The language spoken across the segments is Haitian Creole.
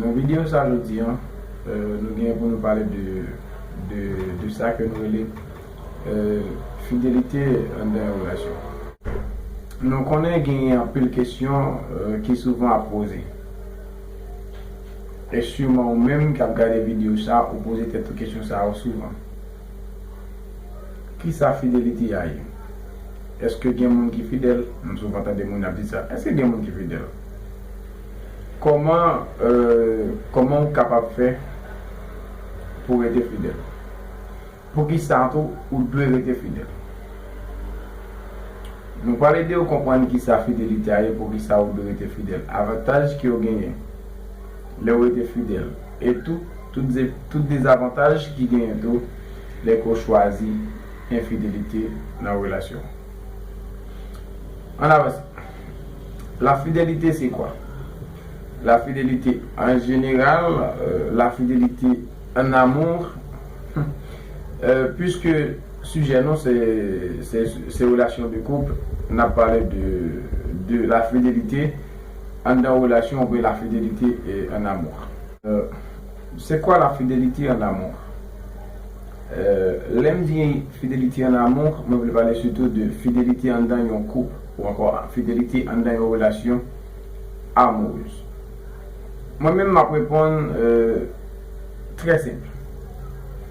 Nan video sa jodi an nou gen pou nou pale de sa ke nou rele fidelite anndan yon relasyon. Nou konnen gen anpil kesyon ki souvan ap poze. E siman ou menm kap gade video sa ou poze tèt ou kesyon sa yo souvan. Kisa fidelite a ye? Eske gen moun ki fidèl? Nou souvan tande moun ap di sa. Eske gen moun ki fidèl? Kòman Kòman ou kapab fè pou rete fidèl? Poukisa tou ou dwe rete fidèl? Nou pral ede ou konprann kisa fidelite a ye, poukisa ou dwe rete fidèl, avantaj ke ou genyen lè ou rete fidèl e tou tout dezavantaj ki genyen tou lè ke ou chwazi enfidelite nan relasyon. Ann avanse. La fidelite se kwa? La fidelite an jeneral, la fidelite an amour, puiske sijè nou se relasyon de koup, n ap pale de la fidelite anndan relasyon oubyen la fidelite an amour. C'est quoi la fidelite en amour? Lè m di fidelite en amour, mwen vle pale sitou de fidelite anndan yon koup ou ankò fidelite anndan yon relasyon amoureuse. Mwen menm m ap reponn trè senp.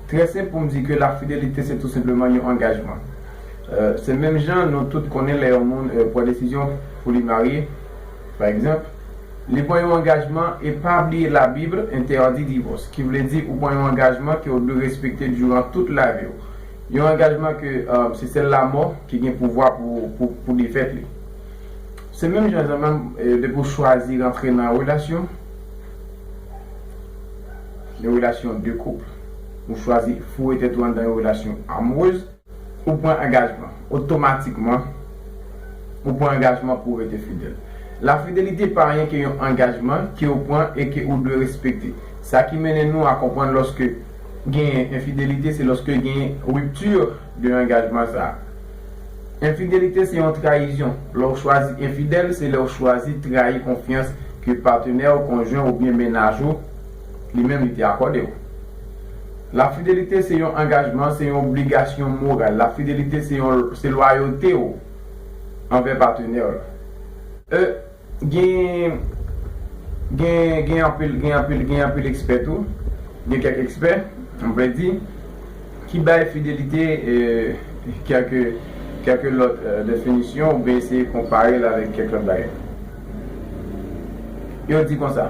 Trè senp pou m di ke la fidelite se tou senpleman yon angajman. Se menm jan nou tout konnen lè yon moun pran desizyon pou li marye, Pa egzanp, li pran yon angajman e pa bliye la Bible interdit divorce, ki vle di ou pran yon angajman ke ou dwe respekte duran tout lavi ou. Yon angajman ke se sèl lamò ki gen pouvwa pou defèt li. Se menm jan an menm depi ou chwazi rantre nan yon relasyon, yon relasyon de couple, ou chwazi foure tèt ou anndan yon relasyon amoureuse, Ou pran angajman. Otomatikman, ou pran angajman pou w rete fidèl. Lafidelite pa anyen ke yon angajman ke ou pran e ke ou dwe respekte. Sa ki mennen nou a konprann lòske genyen enfidelite se lòske genyen rupture de angajman sa a. Enfidelite se yon trayizyon. Lè w chwazi enfidèl, se lè w chwazi trayi konfyans ke patenè w, konjwen w oubyen mennaj ou, li menm li te akòde w. Lafidelite se yon angajman, se yon obligasyon moral. Lafidelite se yon se lwayote w anvè patenè w la. E gen gen gen anpil gen anpil gen anpil ekspè tou, gen kèk ekspè, m vle di, ki bay fidelite kèk kèk lòt definisyon oubyen eseye konpare l avèk kèk lòt bagay. Yo di konsa.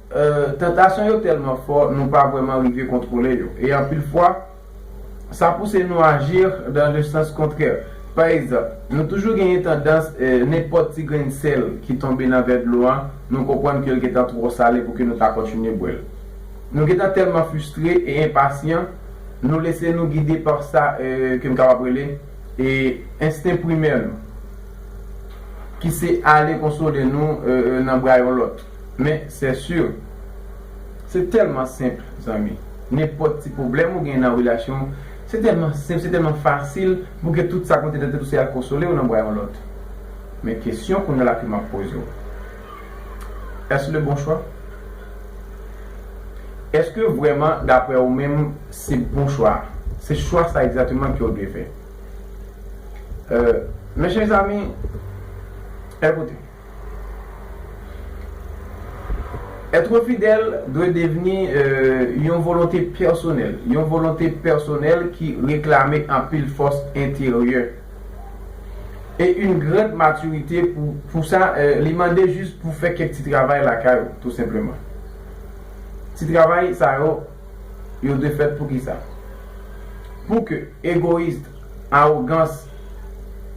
Tantasyon yo tèlman fò nou pa vrèman rive kontwole yo, e anpil fwa, sa pouse nou aji nan le sans kontrè. Pa egzanp, nou toujou genyen tandans, nenpòt ti grenn sèl ki tonbe nan vè dlo an, nou konprann ke l gentan twò sale pou ke nou ta kontinye bwè l. Nou gentan tèlman fistre e enpasyan, nou lese nou gide pa sa ke m kapab rele ensten primè nou, ki se ale konsole nou nan bra yon lòt. Men c'est sûr Se tèlman senp zanmi Nenpòt ti pwoblèm ou gen nan relasyon w Se tèlman senp se tèlman fasil Pou ke tout sa k ou te nan tèt ou se al konsole w nan bra yon lòt Men kesyon kounya la ke map poze w Est-ce le bon choix? Eske vrèman daprè ou menm se bon chwa a? Se chwa sa egzateman ke w dwe fè? Euh Mezanmi Ekoute. Ètre fidèl dwe devni yon volonte pèsonèl, yon volonte pèsonèl ki reklame anpil fòs enteryè e yn grande maturité pou sa li mande jis pou fè kèk ti travay lakay ou tou senpleman. Ti travay sa yo yo dwe fèt pou kisa? Pou ke egoist. Awogans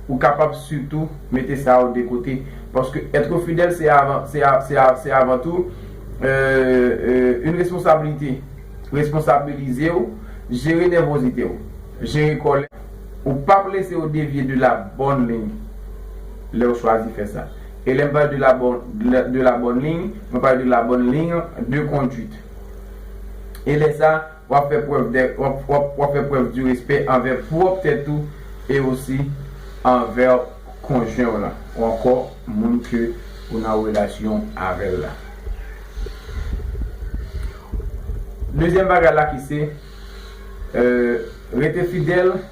Ou kapab sitou mete sa yo de kote, paske ètre fidèl se avan se a se a se avan tou eeuh yn responsabilite Responsabilize w Jere nèvozite w Jere kòlè ou pap lese yo devye de la bòn liy lè w chwazi fè sa E lè m pale de la bòn de la bòn liy mwen pale de la bòn liy de konduit E lè sa w ap fè prèv dè w ap w ap w ap fè prèv di respè anvè pwòp tèt ou e osi anvè konjwen w lan ou ankò moun ke ou nan relasyon avè l la. Dezyèm bagay la ki se, rete fidèl.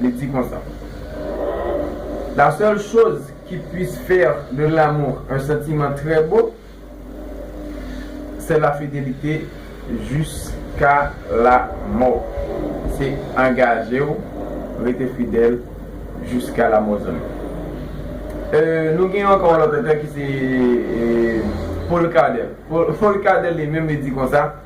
li di konsa, La seule chose qui puisse faire de l'amour un sentiment très beau, c'est la fidélité jusqu'à la mort. Se angaje w, rete fidèl jiska lamò zanmi. Nou gen ankò yon lòt otè ki se Paul Claudel. Paul Claudel li menm li di konsa.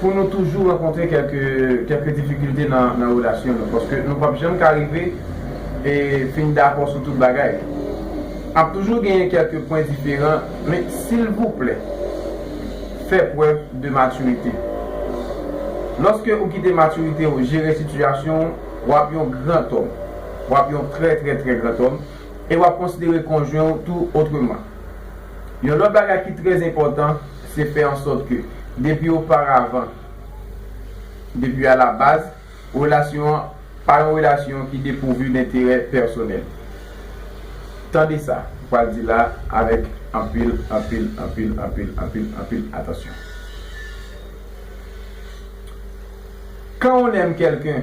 Pou nou toujou rankontre kèlke kèlke difikilte nan nan relasyon nou paske nou pap janm ka rive e fin dakò sou tout bagay ap toujou genyen kèlke pwen diferan men silvouplè fè prèv de matirite lòske ou kite matirite ou jere sitiyasyon ou wap yon grantòm wap yon trè trè trè grantòm e wap konsidere konjwen ou tou otreman yon lòt bagay ki trè enpòtan se fè an sòt ke depi oparavan, depi a la baz, relasyon an pa yon relasyon ki depouvi denterè pèsonèl. Tande sa m pral di la avèk anpil, anpil, anpil, anpil, anpil, anpil atansyon. Quand on aime quelqu'un,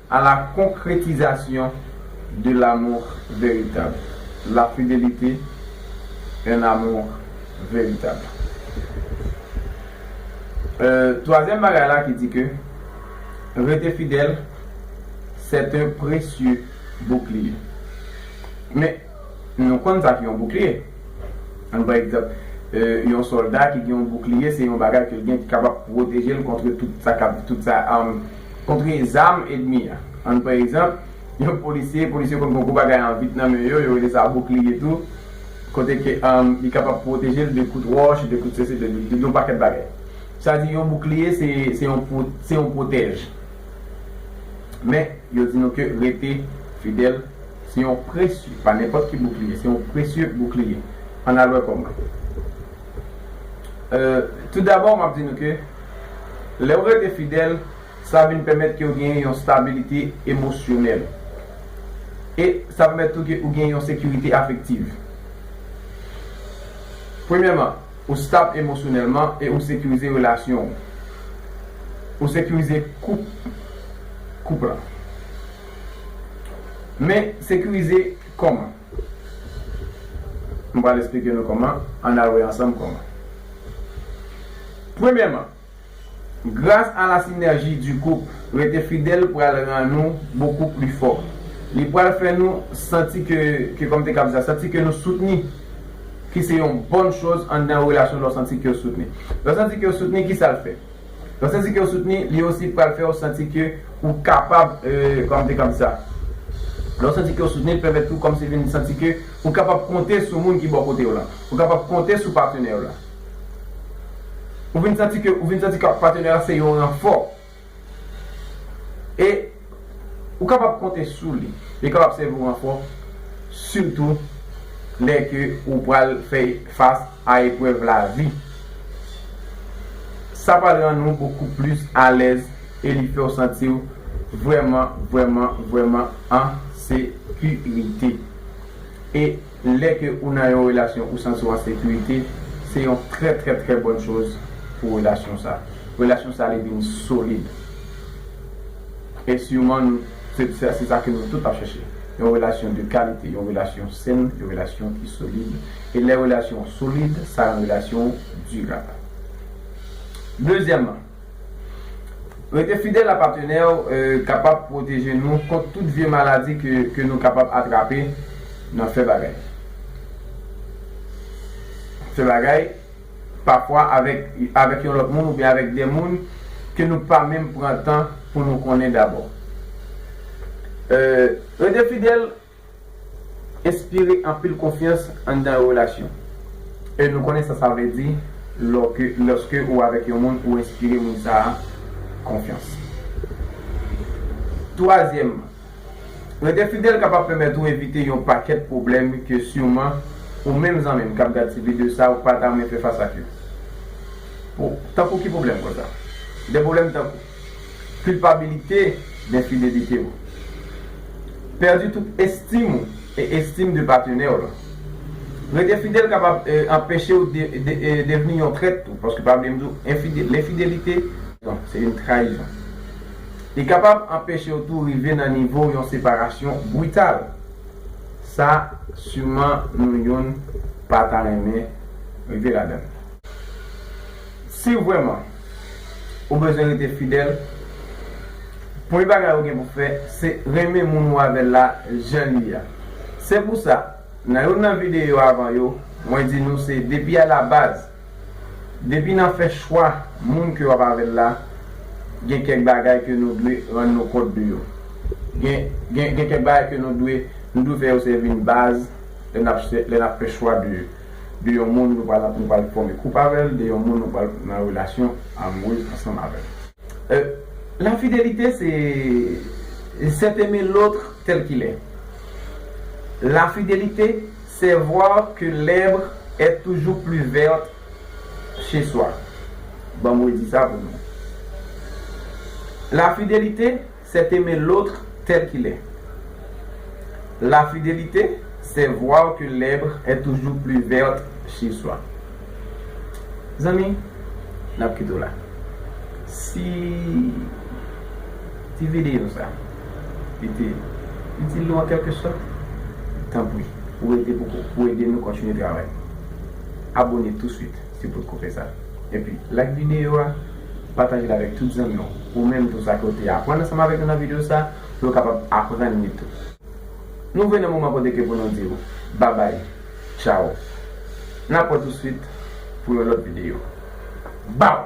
A la concrétisation de l'amour véritable, la fidélité, un amour véritable. Troisième bagay la ki di ke rete fidèl c'est un précieux bouclier. Men nou konn sa ki yon bouclier. Ann pran egzanp, yon solda ki gen yon bouclier se yon bagay ke l gen ki kapab pwoteje l contre tout sa kap tout sa arme Kontre zam edmi a. Ann pran egzanp, yon polisye, polisye konn pran gwo bagay an vit nan men yo, yo rele sa boukliye tou, kote ke li kapab pwoteje l de kout wòch, de kout sesi, de yon pakèt bagay. Sa di yon boukliye se yon pwotèj. Men, yo di nou ke rete fidèl se yon presye, pa nenpòt ki boukliye, se yon presye boukliye. Ann al wè kòman. Toudabò, m ap di nou ke lè ou rete fidèl, sa vin pèmèt ke ou genyen yon stabilite emosyonèl. E sa pèmèt tou ke ou genyen yon sekirite afektiv. Premyèman, ou stab emosyonèlman e ou sekirize relasyon ou. Ou sekirize koup, koup la. Men, sekirize kòman? M pral esplike nou kòman, ann al wè ansanm kòman. Premyèman, gras a la sinèji di koup, rete fidèl pral ran nou bokou pli fò. Li pral fè nou santi ke, ke kòm te kab di sa, santi ke nou soutni, ki se yon bòn choz anndan relasyon lè w santi ke w soutni. Lè w santi ke w soutni, ki sa l fè? Lè w santi ke w soutni, li osi pral fè w santi ke ou kapab kòmte kòmsa. Lè w santi ke w soutni, li pèmèt ou kòmsi vin santi ke ou kapab konte sou moun ki bò kote w lan. Ou kapab konte sou patenè w lan. Ou vin santi ke, ou vin santi ke patenè w lan se yon ranfò. E. Ou kapab konte sou li. Li kapab sèvi w ankò sitou lè ke ou pral fè fas a eprèv lavi. Sa pral rann ou bokou plis alèz e li fè w santi w vrèman, vrèman, vrèman an sekirite. E. Lè ke ou nan yon relasyon ou santi w an sekirite, se yon trè trè trè bòn choz pou relasyon sa. Relasyon sa li vin solid. E siman nou se sa se sa ke nou tout ap chèche. Yon relasyon de kalite, yon relasyon sen, yon relasyon ki solid. E lè relasyon w solid, sa rann relasyon w dirab. Dezyèman. Rete fidèl a patenè w kapab pwoteje nou kont tout vye maladi ke nou kapab atrape nan fè bagay. Fè bagay pafwa avèk yon lòt moun oubyen avèk de moun ke nou pa menm pran tan pou nou konnen dabò. Rete fidèl Enspire anpil konfyans anndan yon relasyon. E nou konnen sa sa vle di lòske ou avèk yon moun ou enspire moun sa a konfyans. Twazyèmman, rete fidèl kapab pèmèt ou evite yon pakèt pwoblèm ke siman ou menm zanmi m k ap gad ti videyo sa a ou pa ta renmen fè fas ak yo. Tankou ki pwoblèm konsa? De pwoblèm tankou. Kilpabilite d'infidelite ou. Pèdi tout estim ou e estim de patenè w lan. Rete fidèl kapab anpeche ou devni yon trèt tou, paske pa bliye m di w l'infidelite, se yn trayizon. Li kapab anpeche w tou rive nan nivo yon separasyon brital. Sa siman nou youn pa ta renmen rive ladan l. Si vrèman. Ou bezwen rete fidèl. Premye bagay ou gen pou fè, se renmen moun ou avè l la jan li a. Se pou sa, nan youn nan videyo avan yo, mwen di nou se depi alabaz, depi nan fè chwa moun ke w ap avè l la, gen kèk bagay ke nou dwe rann nou kont de yo. Gen, gen, gen kèk bagay ke nou dwe, nou dwe fè yo sèvi n baz lè n ap, lè n ap fè chwa de. de yon moun nou pral nou pral fòme koup avèl, de yon moun nou pral nan relasyon amoureuse ansanm avèl. Euh la fidelite se c'est aimer l'autre tel qu'il est la fidelite c'est voir que l'herbe est toujours plus verte chez soi banm redi sa pou nou la fidelite C'est aimer l'autre tel qu'il est La fidélité, c'est voir que l'herbe est toujours plus verte chez soi Zanmi, n ap kite w la Si ti videyo sa li te itil ou an kèlke sòt, tanpri ou ede pou ede nou kontinye travay Abone touswit. Ti bout koupe sa epi like videyo a, patajel avèk tout zanmiw ou menm tou sa ke ou te aprann ansanm avèk nou nan videyo sa pou yo kapab aprann li tou. Nou vre nan moman kote ke pou nou diw babay tchaw nap wè tou swit pou yon lòt videyo baw.